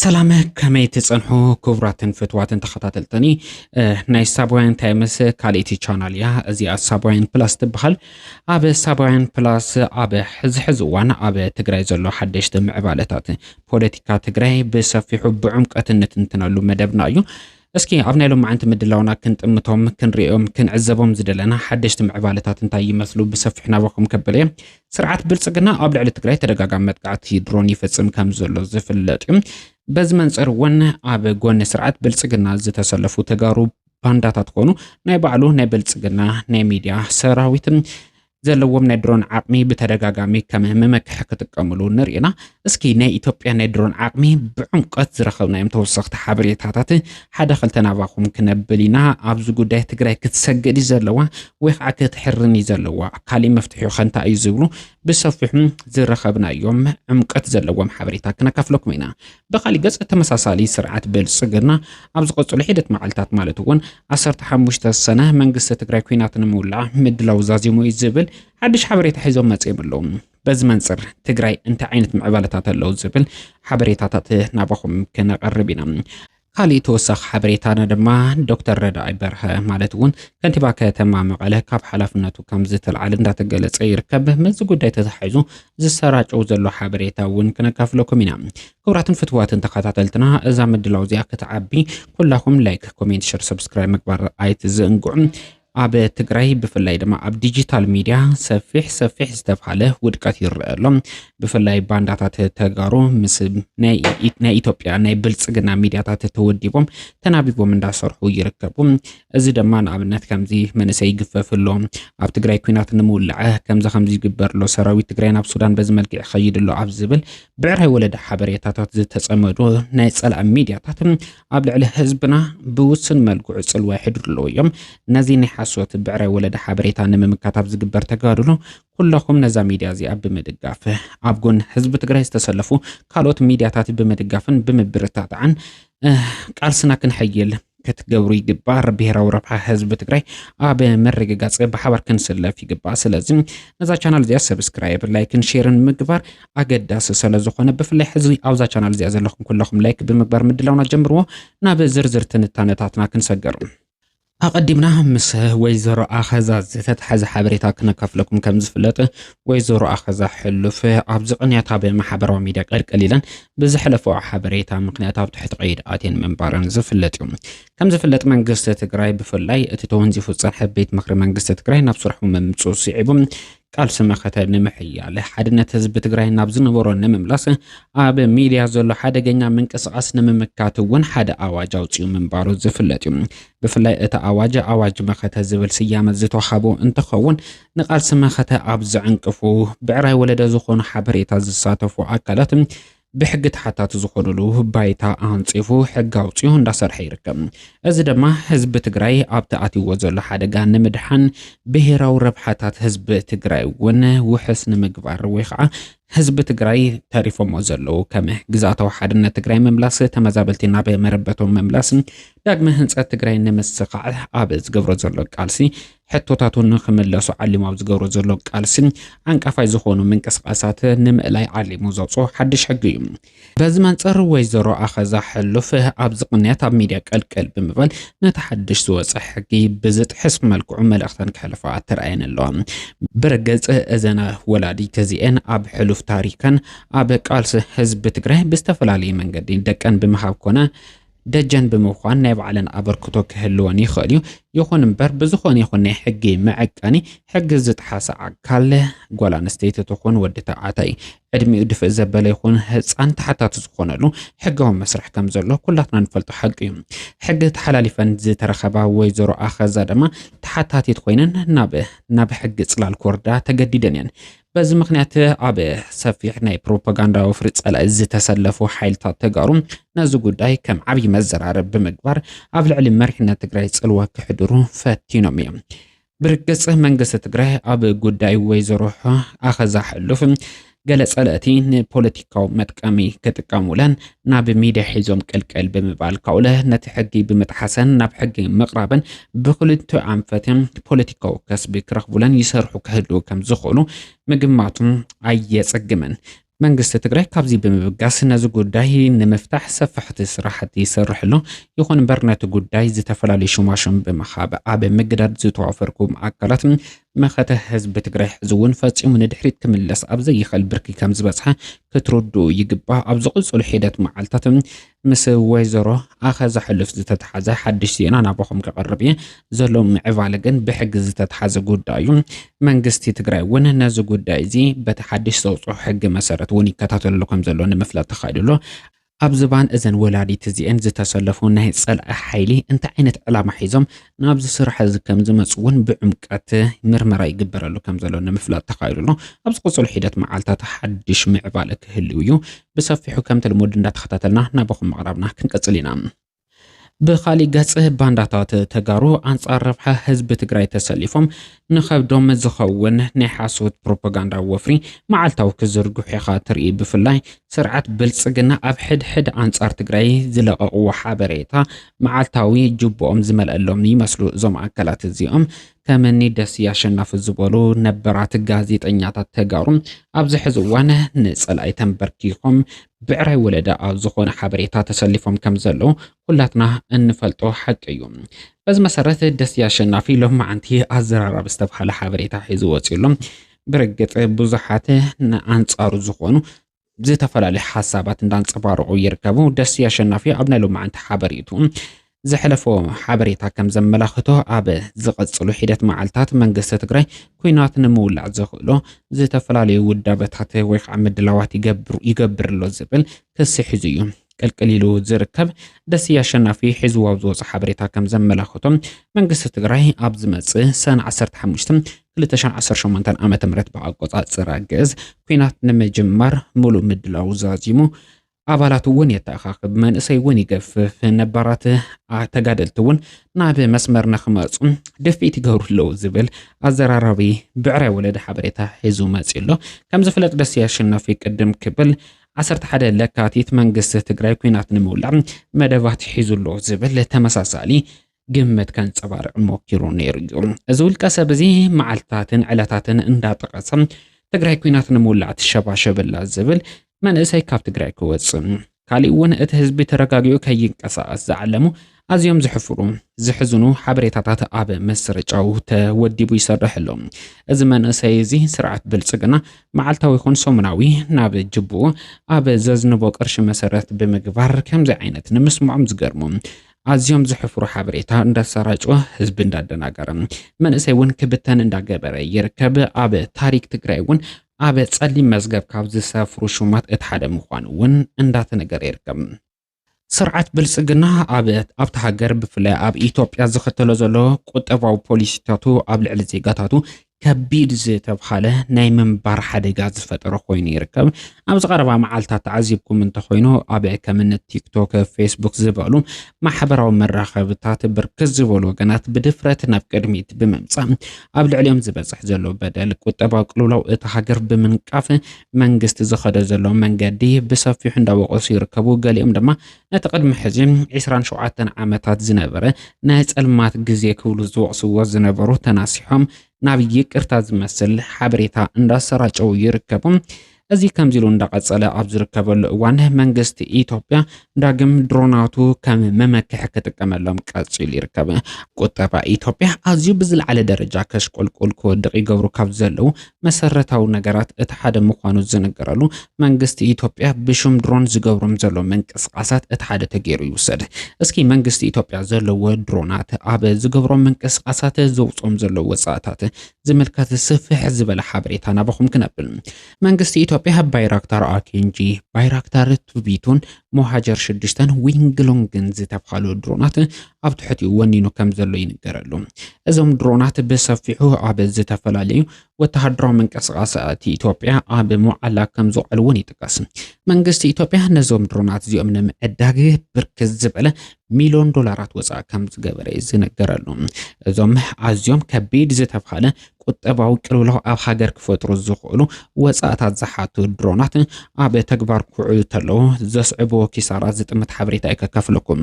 ሰላም ከመይ ትጸንሑ ክቡራትን ፍትዋትን ተኸታተልተኒ ናይ ሳባውያን ታይምስ ካልእቲ ቻናል እያ እዚኣ ሳባውያን ፕላስ ትበሃል ኣብ ሳባውያን ፕላስ ኣብ ሕዚ ሕዚ እዋን ኣብ ትግራይ ዘሎ ሓደሽቲ ምዕባለታት ፖለቲካ ትግራይ ብሰፊሑ ብዕምቀት እንትንትነሉ መደብና እዩ እስኪ ኣብ ናይ ሎምዓንቲ ምድላውና ክንጥምቶም፣ ክንርእዮም፣ ክንዕዘቦም ዝደለና ሓደሽቲ ምዕባለታት እንታይ ይመስሉ ብሰፊሑ ናባኹም ከብል እየ። ስርዓት ብልፅግና ኣብ ልዕሊ ትግራይ ተደጋጋሚ መጥቃዕቲ ድሮን ይፍፅም ከምዘሎ ዝፍለጥ እዩ። በዚ መንፅር እውን ኣብ ጎኒ ስርዓት ብልፅግና ዝተሰለፉ ተጋሩ ባንዳታት ኮኑ ናይ ባዕሉ ናይ ብልፅግና ናይ ሚድያ ሰራዊት ዘለዎም ናይ ድሮን ዓቕሚ ብተደጋጋሚ ከም መመክሒ ክጥቀምሉ ንሪኢና። እስኪ ናይ ኢትዮጵያ ናይ ድሮን ዓቕሚ ብዕምቀት ዝረኸብናዮም ተወሰኽቲ ሓበሬታታት ሓደ ክልተ ናባኹም ክነብል ኢና። ኣብዚ ጉዳይ ትግራይ ክትሰግድ እዩ ዘለዋ ወይ ከዓ ክትሕርን እዩ ዘለዋ፣ ካሊእ መፍትሒ ከ እንታይ እዩ ዝብሉ ብሰፊሑ ዝረኸብናዮም ዕምቀት ዘለዎም ሓበሬታ ክነካፍለኩም ኢና። ብኻሊእ ገፅ ተመሳሳሊ ስርዓት ብልፅግና ኣብ ዝቐፅሉ ሒደት መዓልታት ማለት እውን 15 ሰነ መንግስቲ ትግራይ ኩናት ንምውላዕ ምድላው ዛዚሙ እዩ ዝብል ሓድሽ ሓበሬታ ሒዞም መፂኦም ኣለዉ። በዚ መንፅር ትግራይ እንታይ ዓይነት ምዕባለታት ኣለዉ ዝብል ሓበሬታታት ናባኹም ክነቐርብ ኢና። ካሊእ ተወሳኺ ሓበሬታና ድማ ዶክተር ረዳኢ በርሀ ማለት እውን ከንቲባ ከተማ መቐለ ካብ ሓላፍነቱ ከም ዝተልዓለ እንዳተገለፀ ይርከብ። ምስዚ ጉዳይ ተተሓሒዙ ዝሰራጨው ዘሎ ሓበሬታ እውን ክነካፍለኩም ኢና ክብራትን ፍትዋትን ተኸታተልትና እዛ ምድላው እዚኣ ክትዓቢ ኩላኹም ላይክ ኮሜንት ሸር ሰብስክራይብ ምግባር ኣይትዘንግዑ ኣብ ትግራይ ብፍላይ ድማ ኣብ ዲጂታል ሚድያ ሰፊሕ ሰፊሕ ዝተብሃለ ውድቀት ይረአ ኣሎ ብፍላይ ባንዳታት ተጋሩ ምስ ናይ ኢትዮጵያ ናይ ብልፅግና ሚድያታት ተወዲቦም ተናቢቦም እንዳሰርሑ ይርከቡ እዚ ደማ ንኣብነት ከምዚ መንእሰይ ይግፈፍ ኣሎ ኣብ ትግራይ ኩናት ንምውላዐ ከምዚ ከምዚ ይግበር ኣሎ ሰራዊት ትግራይ ናብ ሱዳን በዚ መልክዕ ይኸይድ ኣሎ ኣብ ዝብል ብዕራይ ወለደ ሓበሬታታት ዝተጸመዱ ናይ ጸላእ ሚድያታት ኣብ ልዕሊ ህዝብና ብውስን መልክዑ ጽልዋ ይሕድሩ ኣለዉ እዮም ነዚ ናይ ሓሶት ብዕራይ ወለደ ሓበሬታ ንምምካት ኣብ ዝግበር ተጋድሎ ኩለኹም ነዛ ሚድያ እዚኣ ብምድጋፍ ኣብ ጎን ህዝቢ ትግራይ ዝተሰለፉ ካልኦት ሚድያታት ብምድጋፍን ብምብርታታዕን ቃልስና ክንሐይል ክትገብሩ ይግባእ። ብሄራዊ ረብሓ ህዝቢ ትግራይ ኣብ ምርግጋፅ ብሓባር ክንስለፍ ይግባእ። ስለዚ ነዛ ቻናል እዚኣ ሰብስክራይብ፣ ላይክን ሼርን ምግባር ኣገዳሲ ስለዝኾነ ብፍላይ ሕዚ ኣብዛ ቻናል እዚኣ ዘለኹም ኩለኹም ላይክ ብምግባር ምድላውና ጀምርዎ። ናብ ዝርዝር ትንታነታትና ክንሰገር ኣቐዲምና ምስ ወይዘሮ ኣኸዛ ዝተተሓዘ ሓበሬታ ክነካፍለኩም ከም ዝፍለጥ ወይዘሮ ኣኸዛ ሕሉፍ ኣብዚ ቅንያት ኣብ ማሕበራዊ ሚዲያ ቀልቀል ኢለን ብዝሐለፈኦ ሐበሬታ ምኽንያት ኣብ ትሕቲ ቀይዲ ኣትየን ምንባረን ዝፍለጥ እዩ። ከም ዝፍለጥ መንግስቲ ትግራይ ብፍላይ እቲ ተወንዚፉ ዝፀንሐ ቤት ምኽሪ መንግስቲ ትግራይ ናብ ስርሑ ምምፅኡ ስዒቡ ቃልሲ መኸተ ንምሕያል፣ ሓድነት ህዝቢ ትግራይ ናብ ዝነበሮ ንምምላስ፣ ኣብ ሚድያ ዘሎ ሓደገኛ ምንቅስቓስ ንምምካት እውን ሓደ ኣዋጅ ኣውፂኡ ምንባሩ ዝፍለጥ እዩ። ብፍላይ እቲ ኣዋጅ ኣዋጅ መኸተ ዝብል ስያመ ዝተውሃቦ እንትኸውን ንቃልሲ መኸተ ኣብ ዘዕንቅፉ ብዕራይ ወለደ ዝኾኑ ሓበሬታ ዝሳተፉ ኣካላት ብሕጊ ተሓታቲ ዝኾኑሉ ባይታ ኣንፂፉ ሕጊ ኣውፂኡ እንዳሰርሐ ይርከብ። እዚ ድማ ህዝቢ ትግራይ ኣብቲ ኣትይዎ ዘሎ ሓደጋ ንምድሓን ብሄራዊ ረብሓታት ህዝቢ ትግራይ እውን ውሕስ ንምግባር ወይ ከዓ ህዝቢ ትግራይ ተሪፎሞ ዘለዉ ከም ግዝኣታዊ ሓድነት ትግራይ ምምላስ፣ ተመዛበልቲ ናብ መረበቶም ምምላስ፣ ዳግመ ህንፀት ትግራይ ንምስኻዕ ኣብ ዝገብሮ ዘሎ ቃልሲ ሕቶታቱ ንክምለሱ ዓሊሙ ኣብ ዝገብሮ ዘሎ ቃልሲ ዓንቃፋይ ዝኾኑ ምንቅስቓሳት ንምእላይ ዓሊሙ ዘውፅኦ ሓድሽ ሕጊ እዩ። በዚ መንፅር ወይዘሮ ኣኸዛ ሕሉፍ ኣብዚ ቅንያት ኣብ ሚድያ ቀልቀል ብምባል ነቲ ሓድሽ ዝወፀ ሕጊ ብዝጥሕስ መልክዑ መልእኽተን ከሕልፋ ተራእየን ኣለዋ። ብርግፅ እዘን ወላዲት እዚኤን ኣብ ሕሉፍ ታሪከን ኣብ ቃልሲ ህዝቢ ትግራይ ብዝተፈላለየ መንገዲ ደቀን ብምሃብ ኮነ ደጀን ብምዃን ናይ ባዕለን ኣበርክቶ ክህልወን ይኽእል እዩ። ይኹን እምበር ብዝኾነ ይኹን ናይ ሕጊ መዐቀኒ ሕጊ ዝጥሓሰ ኣካል ጓል ኣንስተይቲ ትኹን ወዲ ተባዕታይ ዕድሚኡ ድፍእ ዘበለ ይኹን ህፃን ተሓታቲ ዝኾነሉ ሕጋዊ መስርሕ ከም ዘሎ ኩላትና ንፈልጦ ሓቂ እዩ። ሕጊ ተሓላሊፈን ዝተረኸባ ወይዘሮ ኣኸዛ ድማ ተሓታቲት ኮይነን ናብ ናብ ሕጊ ፅላል ክወርዳ ተገዲደን እየን። በዚ ምክንያት ኣብ ሰፊሕ ናይ ፕሮፓጋንዳ ወፍሪ ጸላኢ ዝተሰለፉ ሓይልታት ተጋሩ ነዚ ጉዳይ ከም ዓብዪ መዘራረብ ብምግባር ኣብ ልዕሊ መሪሕነት ትግራይ ጽልዋ ክሕድሩ ፈቲኖም እዮም። ብርግጽ መንግስቲ ትግራይ ኣብ ጉዳይ ወይዘሮ ኣኸዛ ሕሉፍ ገለ ጸለእቲ ንፖለቲካዊ መጥቀሚ ክጥቀሙለን ናብ ሚድያ ሒዞም ቅልቅል ብምባል ካውለ ነቲ ሕጊ ብምጥሓሰን ናብ ሕጊ ምቕራብን ብክልተ ኣንፈትን ፖለቲካዊ ከስቢ ክረኽቡለን ይሰርሑ ክህልው ከም ዝኽእሉ ምግማቱ ኣየጸግምን። መንግስቲ ትግራይ ካብዚ ብምብጋስ ነዚ ጉዳይ ንምፍታሕ ሰፋሕቲ ስራሕቲ ይሰርሕ ኣሎ። ይኹን እምበር ነቲ ጉዳይ ዝተፈላለዩ ሽማሽም ብምሃብ ኣብ ምግዳድ ዝተዋፈርኩም ኣካላት መኸተ ህዝቢ ትግራይ ሕዚ እውን ፈፂሙ ንድሕሪት ክምለስ ኣብ ዘይኽእል ብርኪ ከም ዝበፅሐ ክትርድኡ ይግባእ። ኣብ ዝቕጽሉ ሒደት መዓልታት ምስ ወይዘሮ ኣኸዛ ሕሉፍ ዝተተሓዘ ሓድሽ ዜና ናባኹም ከቐርብ እየ። ዘሎ ምዕባለ ግን ብሕጊ ዝተተሓዘ ጉዳይ እዩ። መንግስቲ ትግራይ እውን ነዚ ጉዳይ እዚ በቲ ሓድሽ ዘውጽኦ ሕጊ መሰረት እውን ይከታተለሉ ከም ዘሎ ንምፍላጥ ተኻኢሉ ኣሎ። ኣብ ዝባን እዘን ወላዲት እዚኤን ዝተሰለፉ ናይ ፀላኢ ሓይሊ እንታይ ዓይነት ዕላማ ሒዞም ናብዚ ስራሕ እዚ ከም ዝመፁ እውን ብዕምቀት ምርመራ ይግበረሉ ከም ዘሎ ንምፍላጥ ተኻኢሉ ኣሎ። ኣብ ዝቕፅሉ ሒደት መዓልታት ሓድሽ ምዕባለ ክህልው እዩ። ብሰፊሑ ከምቲ ልሙድ እንዳተኸታተልና ናባኹም ምቕራብና ክንቅፅል ኢና። ብኻሊእ ገፅ ባንዳታት ተጋሩ ኣንፃር ረብሓ ህዝቢ ትግራይ ተሰሊፎም ንኸብዶም ዝኸውን ናይ ሓሶት ፕሮፓጋንዳ ወፍሪ መዓልታዊ ክዝርግሑ ኢኻ ትርኢ። ብፍላይ ስርዓት ብልፅግና ኣብ ሕድሕድ ኣንፃር ትግራይ ዝለቐቕዎ ሓበሬታ መዓልታዊ ጅቦኦም ዝመልኣሎም ይመስሉ እዞም ኣካላት እዚኦም። ከምኒ ደስየ ኣሸናፊ ዝበሉ ነበራት ጋዜጠኛታት ተጋሩ ኣብዚ ሕዚ እዋን ንፀላኢ ተንበርኪኾም ብዕራይ ወለዳ ኣብ ዝኾነ ሓበሬታ ተሰሊፎም ከም ዘለዉ ኩላትና እንፈልጦ ሓቂ እዩ። በዚ መሰረት ደስየ ኣሸናፊ ሎማዓንቲ ኣዘራራቢ ዝተብሃለ ሓበሬታ ሒዙ ወፂኡ ኣሎ። ብርግፅ ብዙሓት ንኣንፃሩ ዝኾኑ ዝተፈላለዩ ሓሳባት እንዳንፀባረቑ ይርከቡ። ደሴ ኣሸናፊ ኣብ ናይ ሎማዕንቲ ሓበሬቱ ዘሕለፎ ሓበሬታ ከም ዘመላኽቶ ኣብ ዝቐፅሉ ሒደት መዓልታት መንግስቲ ትግራይ ኩናት ንምውላዕ ዘኽእሎ ዝተፈላለዩ ውዳበታት ወይ ከዓ ምድላዋት ይገብር ኣሎ ዝብል ክሲ ሒዙ እዩ ቅልቅል ኢሉ ዝርከብ ደስየ ኣሸናፊ ሒዝዎ ኣብ ዝወፆ ሓበሬታ ከም ዘመላኸቶ መንግስቲ ትግራይ ኣብ ዝመፅእ ሰነ 15 2018 ዓ ም ብኣቆፃፅራ ግእዝ ኩናት ንምጅማር ሙሉእ ምድላው ዛዚሙ ኣባላት እውን የተኣኻኽብ መንእሰይ እውን ይገፍፍ ነባራት ተጋደልቲ እውን ናብ መስመር ንክመፁ ድፍኢት ይገብሩ ኣለዉ ዝብል ኣዘራራቢ ብዕራይ ወለደ ሓበሬታ ሒዙ መፂኡ ኣሎ ከም ዝፍለጥ ደስየ ኣሸናፊ ቅድም ክብል ዓሰርተ ሓደ ለካቲት መንግስቲ ትግራይ ኲናት ንምውላዕ መደባት ሒዙ ኣሎ ዝብል ተመሳሳሊ ግምት ከንጸባርቕ ሞኪሩ ነይሩ እዩ። እዚ ውልቀ ሰብ እዚ መዓልታትን ዕለታትን እንዳጠቐሰ ትግራይ ኲናት ንምውላዕ ትሸባሸብ ኣላ ዝብል መንእሰይ ካብ ትግራይ ክወጽእ ካሊእ እውን እቲ ህዝቢ ተረጋጊዑ ከይንቀሳቐስ ዝዓለሙ ኣዝዮም ዝሕፍሩ ዝሕዝኑ ሓበሬታታት ኣብ ምስርጫው ተወዲቡ ይሰርሕ ኣሎ። እዚ መንእሰይ እዚ ስርዓት ብልጽግና መዓልታዊ ይኹን ሰሙናዊ ናብ ጅቡኡ ኣብ ዘዝንቦ ቅርሺ መሰረት ብምግባር ከምዚ ዓይነት ንምስምዖም ዝገርሙ ኣዝዮም ዝሕፍሩ ሓበሬታ እንዳሰራጭወ ህዝቢ እንዳደናገረ መንእሰይ እውን ክብተን እንዳገበረ ይርከብ። ኣብ ታሪክ ትግራይ እውን ኣብ ጸሊም መዝገብ ካብ ዝሰፍሩ ሹማት እቲ ሓደ ምዃኑ እውን እንዳተነገረ ይርከብ። ስርዓት ብልጽግና ኣብ ኣብታ ሃገር ብፍላይ ኣብ ኢትዮጵያ ዝኸተሎ ዘሎ ቁጠባዊ ፖሊሲታቱ ኣብ ልዕሊ ዜጋታቱ ከቢድ ዝተብሃለ ናይ ምንባር ሓደጋ ዝፈጠረ ኮይኑ ይርከብ ኣብዚ ቀረባ መዓልትታት ተዓዚብኩም እንተኮይኑ ኣብ ከምኒ ቲክቶክ ፌስቡክ ዝበሉ ማሕበራዊ መራኸብታት ብርክት ዝበሉ ወገናት ብድፍረት ናብ ቅድሚት ብምምፃእ ኣብ ልዕሊኦም ዝበፅሕ ዘሎ በደል ቁጠባዊ ቅልውላው እቲ ሃገር ብምንቃፍ መንግስቲ ዝኸዶ ዘሎ መንገዲ ብሰፊሑ እንዳወቐሱ ይርከቡ። ገሊኦም ድማ ነቲ ቅድሚ ሕዚ ዒስራን ሸውዓተን ዓመታት ዝነበረ ናይ ጸልማት ግዜ ክብሉ ዝወቕስዎ ዝነበሩ ተናሲሖም ናብ ይቅርታ ዝመስል ሓበሬታ እንዳሰራጨው ይርከቡ። እዚ ከምዚ ኢሉ እንዳቐጸለ ኣብ ዝርከበሉ እዋን መንግስቲ ኢትዮጵያ ዳግም ድሮናቱ ከም መመክሒ ክጥቀመሎም ቀፂሉ ይርከብ። ቁጠባ ኢትዮጵያ ኣዝዩ ብዝለዓለ ደረጃ ከሽቆልቁል ክወድቕ ይገብሩ ካብ ዘለዉ መሰረታዊ ነገራት እቲ ሓደ ምዃኑ ዝንገረሉ መንግስቲ ኢትዮጵያ ብሽም ድሮን ዝገብሮም ዘሎ ምንቅስቓሳት እቲ ሓደ ተገይሩ ይውሰድ። እስኪ መንግስቲ ኢትዮጵያ ዘለዎ ድሮናት ኣብ ዝገብሮም ምንቅስቓሳት ዘውፅኦም ዘሎ ወፃእታት ዝምልከት ስፍሕ ዝበለ ሓበሬታ ናባኹም ክነብል መንግስቲ ኢትዮጵያ ባይራክታር ኣኬንጂ፣ ባይራክታር ቱቪቱን ሞሃጀር ሽዱሽተን ዊንግሎንግን ዝተብሃሉ ድሮናት ኣብ ትሕቲኡ ወኒኑ ከም ዘሎ ይንገረሉ። እዞም ድሮናት ብሰፊሑ ኣብ ዝተፈላለዩ ወተሃደራዊ ምንቅስቓሳት ኢትዮጵያ ኣብ መዓላ ከም ዝውዕሉ እውን ይጥቀስ። መንግስቲ ኢትዮጵያ ነዞም ድሮናት እዚኦም ንምዕዳግ ብርክት ዝበለ ሚሊዮን ዶላራት ወፃእ ከም ዝገበረ እዩ ዝነገረሉ። እዞም ኣዝዮም ከቢድ ዝተብሃለ ቁጠባዊ ቅልውላው ኣብ ሃገር ክፈጥሩ ዝኽእሉ ወጻእታት ዝሓቱ ድሮናት ኣብ ተግባር ክውዕሉ ተለዉ ዘስዕብዎ ኪሳራ ዝጥምት ሓበሬታ እዩ ከካፍለኩም።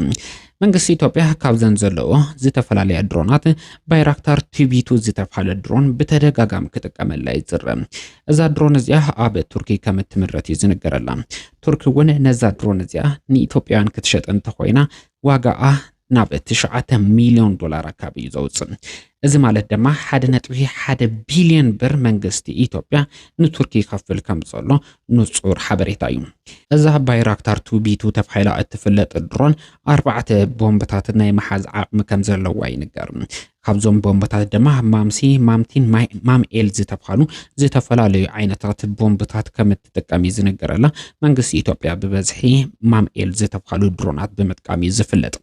መንግስቲ ኢትዮጵያ ካብዘን ዘለዎ ዝተፈላለያ ድሮናት ባይራክታር ቲቢቱ ዝተብሃለ ድሮን ብተደጋጋሚ ክጥቀመላ ይዝረ። እዛ ድሮን እዚኣ ኣብ ቱርኪ ከም እትምረት እዩ ዝንገረላ። ቱርኪ እውን ነዛ ድሮን እዚኣ ንኢትዮጵያውያን ክትሸጥ እንተኾይና ዋጋኣ ናብ ትሽዓተ ሚልዮን ዶላር ኣካቢ እዩ ዘውፅእ። እዚ ማለት ድማ ሓደ ነጥቢ ሓደ ቢልዮን ብር መንግስቲ ኢትዮጵያ ንቱርኪ ይኸፍል ከም ዘሎ ንጹር ሓበሬታ እዩ። እዛ ባይራክታር ቱ ቢቱ ተባሂላ እትፍለጥ ድሮን ኣርባዕተ ቦምብታት ናይ ምሓዝ ዓቕሚ ከም ዘለዋ ይንገር። ካብዞም ቦምብታት ድማ ማምሲ፣ ማምቲን ማይ ማምኤል ዝተብሃሉ ዝተፈላለዩ ዓይነታት ቦምብታት ከም እትጥቀም እዩ ዝንገረላ። መንግስቲ ኢትዮጵያ ብበዝሒ ማምኤል ዝተብሃሉ ድሮናት ብምጥቃም እዩ ዝፍለጥ።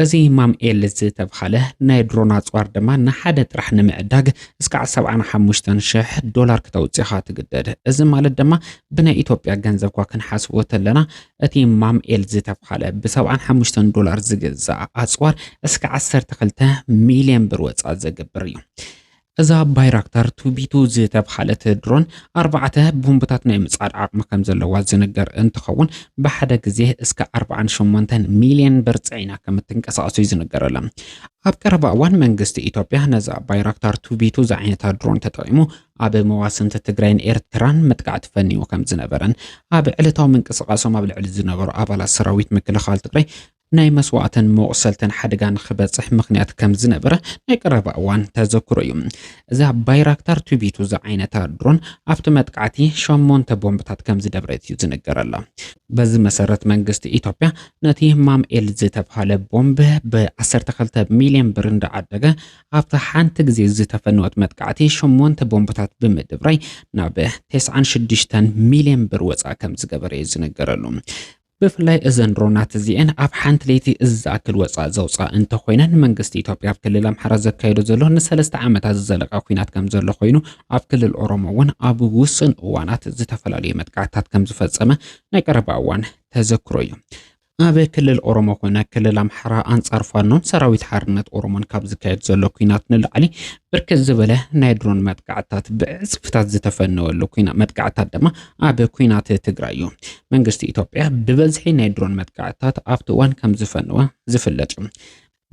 እዚ ማምኤል ዝተብሃለ ናይ ድሮን ኣጽዋር ድማ ንሓደ ጥራሕ ንምዕዳግ እስካዕ 75 ሽሕ ዶላር ክተውጽኻ ትግደድ። እዚ ማለት ድማ ብናይ ኢትዮጵያ ገንዘብ ኳ ክንሓስቦ ተለና እቲ ማምኤል ዝተብሃለ ብ ሰብዓን ሓሙሽተን ዶላር ዝግዛእ ኣጽዋር እስከ ዓሰርተ ክልተ ሚልዮን ብር ወጻኢ ዘገብር እዩ። እዛ ባይራክታር ቱቢቱ ዝተብሃለት ድሮን ኣርባዕተ ቦምብታት ናይ ምጽዓድ ዓቕሚ ከምዘለዋ ዝንገር እንትኸውን ብሓደ ግዜ እስከ ኣርብዓን ሸሞንተን ሚልዮን ብር ጽዒና ከምትንቀሳቐስ'ዩ ዝንገረላ። ኣብ ቀረባ እዋን መንግስቲ ኢትዮጵያ ነዛ ባይራክታር ቱቢቱ ዝዓይነታ ድሮን ተጠቒሙ ኣብ መዋስንቲ ትግራይን ኤርትራን መጥቃዕቲ ፈኒዉ ከም ዝነበረን ኣብ ዕለታዊ ምንቅስቓሶም ኣብ ልዕሊ ዝነበሩ ኣባላት ሰራዊት ምክልኻል ትግራይ ናይ መስዋእትን መቑሰልትን ሓደጋ ንክበፅሕ ምክንያት ከም ዝነበረ ናይ ቀረባ እዋን ተዘክሮ እዩ። እዛ ባይራክታር ቱቢቱ ዝዓይነታ ድሮን ኣብቲ መጥቃዕቲ ሸሞንተ ቦምብታት ከም ዝደብረት እዩ ዝንገረላ። በዚ መሰረት መንግስቲ ኢትዮጵያ ነቲ ማምኤል ዝተብሃለ ቦምብ ብ12 ሚልዮን ብር እንዳዓደገ ኣብታ ሓንቲ ግዜ ዝተፈነወት መጥቃዕቲ ሸሞንተ ቦምብታት ብምድብራይ ናብ ተስዓን ሽዱሽተን ሚልዮን ብር ወጻኢ ከም ዝገበረ'ዩ ዝንገረሉ። ብፍላይ እዘን ድሮናት እዚኤን ኣብ ሓንቲ ለይቲ እዚ ዝኣክል ወጻኢ ዘውጽኣ እንተኾይነን መንግስቲ ኢትዮጵያ ኣብ ክልል ኣምሓራ ዘካይዶ ዘሎ ንሰለስተ ዓመታት ዝዘለቀ ኲናት ከም ዘሎ ኮይኑ ኣብ ክልል ኦሮሞ እውን ኣብ ውሱን እዋናት ዝተፈላለዩ መጥቃዕትታት ከም ዝፈጸመ ናይ ቀረባ እዋን ተዘክሮ እዩ። ኣብ ክልል ኦሮሞ ኮነ ክልል ኣምሓራ ኣንጻር ፋኖን ሰራዊት ሓርነት ኦሮሞን ካብ ዝካየድ ዘሎ ኩናት ንላዕሊ ብርክት ዝበለ ናይ ድሮን መጥቃዕትታት ብዕጽፍታት ዝተፈነወሉ ኩና መጥቃዕትታት ድማ ኣብ ኩናት ትግራይ እዩ። መንግስቲ ኢትዮጵያ ብበዝሒ ናይ ድሮን መጥቃዕትታት ኣብቲ እዋን ከም ዝፈነወ ዝፍለጥ እዩ።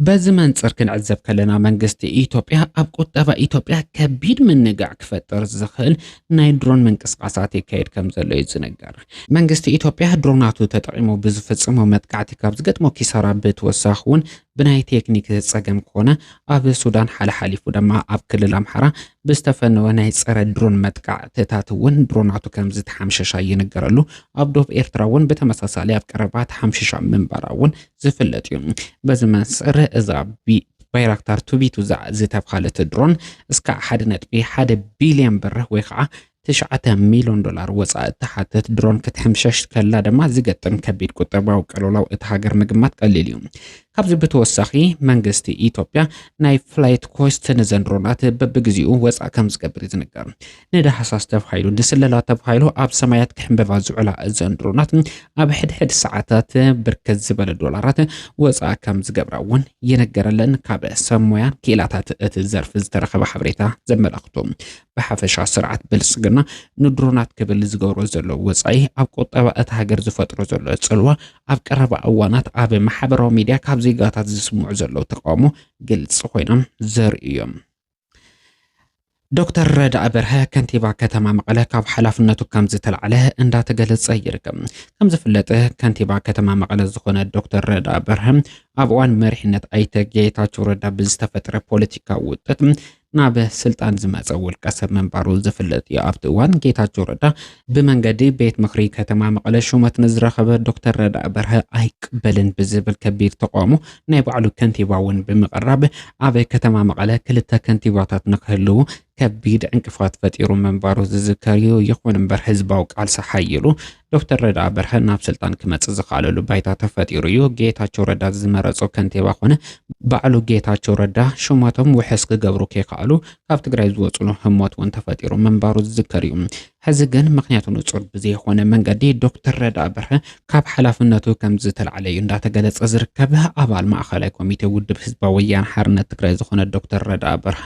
በዚ መንፅር ክንዕዘብ ከለና መንግስቲ ኢትዮጵያ ኣብ ቁጠባ ኢትዮጵያ ከቢድ ምንጋዕ ክፈጥር ዝኽእል ናይ ድሮን ምንቅስቓሳት የካይድ ከምዘሎ እዩ ዝንገር። መንግስቲ ኢትዮጵያ ድሮናቱ ተጠቒሙ ብዝፍፅሞ መጥቃዕቲ ካብ ዝገጥሞ ኪሳራ ብተወሳኺ እውን ብናይ ቴክኒክ ፀገም ኮነ ኣብ ሱዳን ሓለሓሊፉ ድማ ኣብ ክልል ኣምሓራ ብዝተፈነወ ናይ ፀረ ድሮን መጥቃዕትታት እውን ድሮናቱ ከም ዝተሓምሸሻ ይንገረሉ። ኣብ ዶብ ኤርትራ እውን ብተመሳሳሊ ኣብ ቀረባ ተሓምሽሻ ምንባራ እውን ዝፍለጥ እዩ። በዚ መንፅር እዛ ባይራክታር ቱቢቱ ዝተብሃለት ድሮን እስካዕ ሓደ ነጥቢ ሓደ ቢልዮን ብር ወይ ከዓ ትሽዓተ ሚሊዮን ዶላር ወፃኢ እትሓትት ድሮን ክትሕምሸሽ ከላ ድማ ዝገጥም ከቢድ ቁጠባዊ ቅልውላው እቲ ሃገር ምግማት ቀሊል እዩ። ካብዚ ብተወሳኺ መንግስቲ ኢትዮጵያ ናይ ፍላይት ኮስት ነዘን ድሮናት በብግዚኡ ወፃእ ከም ዝገብር እዩ ዝንገር። ንዳህሳስ ተባሂሉ ንስለላ ተባሂሉ ኣብ ሰማያት ክሕንበባ ዝውዕላ እዘን ድሮናት ኣብ ሕድሕድ ሰዓታት ብርክት ዝበለ ዶላራት ወፃእ ከም ዝገብራ እውን ይነገረለን ካብ ሰብ ሞያ ክኢላታት እቲ ዘርፊ ዝተረኸበ ሓበሬታ ዘመላኽቶ ብሓፈሻ ስርዓት ብልፅግና ንድሮናት ክብል ዝገብሮ ዘሎ ወፃኢ ኣብ ቁጠባ እቲ ሃገር ዝፈጥሮ ዘሎ ፅልዋ ኣብ ቀረባ እዋናት ኣብ ማሕበራዊ ሚዲያ ካብ ዜጋታት ዝስምዑ ዘለዉ ተቃውሞ ግልፂ ኮይኖም ዘርእዮም ዶክተር ረዳኢ በርሀ ከንቲባ ከተማ መቐለ ካብ ሓላፍነቱ ከም ዝተላዕለ እንዳተገለጸ ይርከብ። ከም ዝፍለጥ ከንቲባ ከተማ መቐለ ዝኾነ ዶክተር ረዳኢ በርሀ ኣብ እዋን መሪሕነት ኣይተ ጌታቸው ረዳ ብዝተፈጥረ ፖለቲካዊ ውጥት ናብ ስልጣን ዝመፀ ውልቀ ሰብ ምንባሩ ዝፍለጥ እዩ። ኣብቲ እዋን ጌታቸው ረዳ ብመንገዲ ቤት ምኽሪ ከተማ መቐለ ሹመት ንዝረኸበ ዶክተር ረዳኢ በርሀ ኣይቅበልን ብዝብል ከቢድ ተቓውሞ ናይ ባዕሉ ከንቲባ እውን ብምቕራብ ኣብ ከተማ መቐለ ክልተ ከንቲባታት ንክህልው ከቢድ ዕንቅፋት ፈጢሩ ምንባሩ ዝዝከር እዩ። ይኹን እምበር ህዝባዊ ቃልሲ ሓይሉ ዶክተር ረዳኢ በርሀ ናብ ስልጣን ክመፅእ ዝኸኣለሉ ባይታ ተፈጢሩ እዩ። ጌታቸው ረዳ ዝመረፆ ከንቲባ ኮነ ባዕሉ ጌታቸው ረዳ ሹመቶም ውሕስ ክገብሩ ከይከኣሉ ካብ ትግራይ ዝወፅሉ ህሞት እውን ተፈጢሩ ምንባሩ ዝዝከር እዩ። ሕዚ ግን ምክንያቱ ንፁር ብዘይኾነ መንገዲ ዶክተር ረዳኢ በርሀ ካብ ሓላፍነቱ ከምዝተላዕለ እዩ እንዳተገለፀ ዝርከብ። ኣባል ማእኸላይ ኮሚቴ ውድብ ህዝባዊ ወያነ ሓርነት ትግራይ ዝኾነ ዶክተር ረዳኢ በርሀ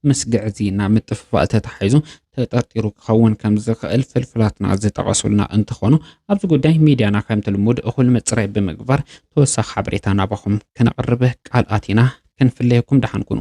ምስ ግዕዝይና ምጥፍፋእ ተታሒዙ ተጠርጢሩ ክኸውን ከምዝኽእል ፍልፍላትና ዝጠቐሱልና እንትኾኑ ኣብዚ ጉዳይ ሚድያና ከምቲ ልሙድ እኹል ምፅራይ ብምግባር ተወሳኺ ሓበሬታ ናባኹም ክነቕርብ ቃል ኣቲና ክንፍለየኩም ደሓን ኩኑ።